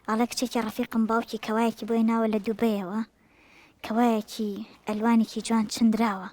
ئەڵێ کچێکی ڕەفیقم باوکی کەوایەکی بۆ هێناوە لە دوبەیەوە کەوایەکی ئەلوانێکی جوان چندراوە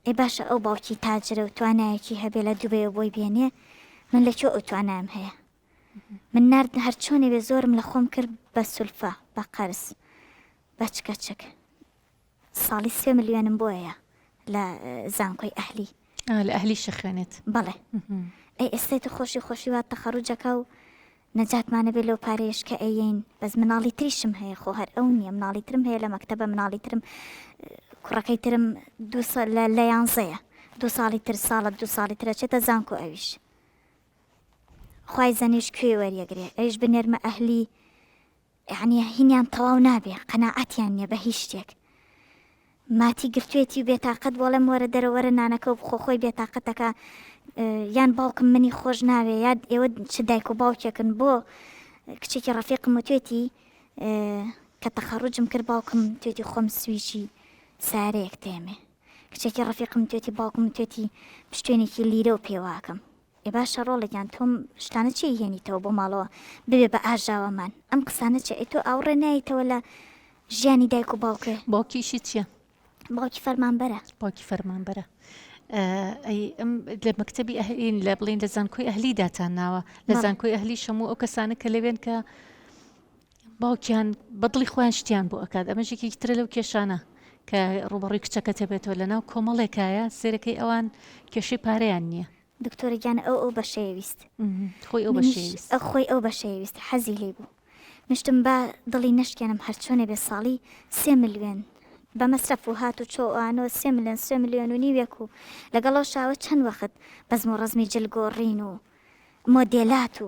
ئێ باشە ئەو باوکی تاجرە و توانایەکی هەبێ لە دوبەیەوە بۆی بێنێ من لە کێ ئەو توانایم هەیە من نرد هەرچۆنێ بێ زۆرم لە خۆم کرد بە سولفە بە قەرز بەچکەچک ساڵی سێ ملیۆنم بۆیە لە زانکۆی ئەهلی. ئا لە ئەهلیش ئەخوێنێت. بەڵێ. ئەی ئێستەی تو خۆشی خۆشی وات تەخەڕوجەکە و نەجاتمان نەبێ لەو پارەیەش کە ئەیەین، بەس مناڵی تریشم هەیە خۆ هەر ئەو نییە مناڵی ترم هەیە لە مەکتەبە مناڵی ترم کوڕەکەی ترم دوو سا لە لە یانزەیە دوو ساڵی تر ساڵە دوو ساڵی تر ئەچێتە زانکۆ ئەویش خوای زەنیش کوێی وەریەگرێ ئەویش بنێرمە ئەهلی یەعنی هینیان تەواو نابێ قەناعەتیان نیە بە هیچ شتێک ماتی گرتوێتی و بێتاقەت بۆڵێم وەرە دەرە وەرە نانەکە و بخۆ خۆی بێتاقەتەکە یان باوکم منی خۆش ناوێ یاد ئێوە چ دایک و باوکێکن بۆ کچێکی ڕەفیقم و توێتی کە تەخەڕوجم کرد باوکم توێتی خۆم سویچی سارەیەک تێمێ کچێکی ڕەفیقم توێتی باوکم توێتی پشتێنێکی لیرە و پێواکەم ئێ باشە ڕۆڵە گیان تۆم شتانە چیە یێنیتەوە بۆ ماڵەوە ببێ بە ئاژاوەمان ئەم قسانە چیە ئەی تۆ ئاوڕێ نایتەوە لە ژیانی دایک و باوکێ باوکیشی چیە باوکی فەرمانبەرە باوکی فەرمانبەرە لە مەکتتەبی ئەهلین لە بڵین لە زانکۆی ئەهلی داتان ناوە لە زانکۆی ئەهلی شەمو ئەو کەسانە کە لەوێن کە باوکیان بەدڵی خۆیان شتیان بۆ ئەکات ئەمە ژێکێکی ترە لەو کێشانە کە ڕوبەڕوی کچەکە تەبێتەوە لە ناو کۆمەڵێکایە سێرەکەی ئەوان کێشەی پارەیان نییە دکتۆرە گیان ئەو ئەو بەشەیەویست خۆی ئەو بەشەویست ئەو خۆی ئەو بەشەیەویست حەزی لی بوو مشتم بە دڵی نشکێنم هەرچۆنێ بێ ساڵی سێ ملیێن بە مەسرەف و هات و چۆوانۆ سێ ملیۆن سێ ملیۆن و نیوێک و لەگەڵەوە شاوە چەند وەخت بەزم و ڕزمی جلگۆڕین و مۆدێلات و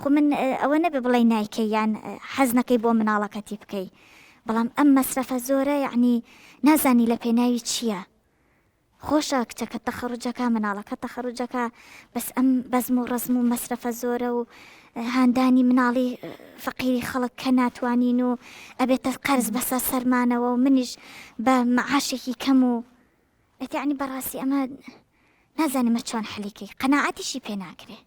خۆ من ئەوە نەبێ بڵێی نایکەی یان حەز نەکەی بۆ مناڵەکەتی بکەی بەڵام ئەم مەسرەفە زۆرە یەعنی نازانی لە پێناوی چییە خۆشە کچەکە تەخەڕوجەکە مناڵەکە تەخەڕوجەکە بەس ئەم بەزم و ڕزم و مەسرەفە زۆرە و هاندانی مناڵی فەقیری خەڵک کە ناتوانین و ئەبێتە قەرز بەسەر سەرمانەوە و منیش بە معاشێکی کەم و ئەتیعنی بەڕاستی ئەمە نازانمە چۆن حەلیکەی قەنەعاتیشی پێ ناکرێ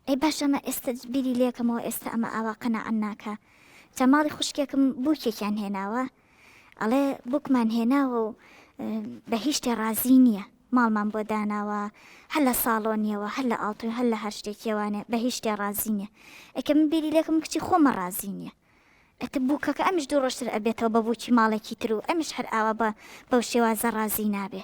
ئەی باش ئەمە ئێستا بیری لێکەمەوە ئێستا ئەمە ئاوا قەنەعەن ناکە چە ماڵی خوشکێکم بووکێکیان هێناوە ئەڵێ بوکمان هێناوە و بە هیچتێ ڕازی نییە ماڵمان بۆ داناوە هەر لە ساڵۆنیەوە هەر لە ئاڵتون هەر لە هەر شتێکیوانێ بە هیچ شتێ ڕازی نیە ئەکە من بیری لەکەم کچی خۆمە ڕازی نیە ئەتە بووکەکە ئەمش دوو ڕۆشتر ئەبێتەوە بە بووکی ماڵێکی تر و ئەمش هەر ئاوا بە بەو شێوازە ڕازی نابێ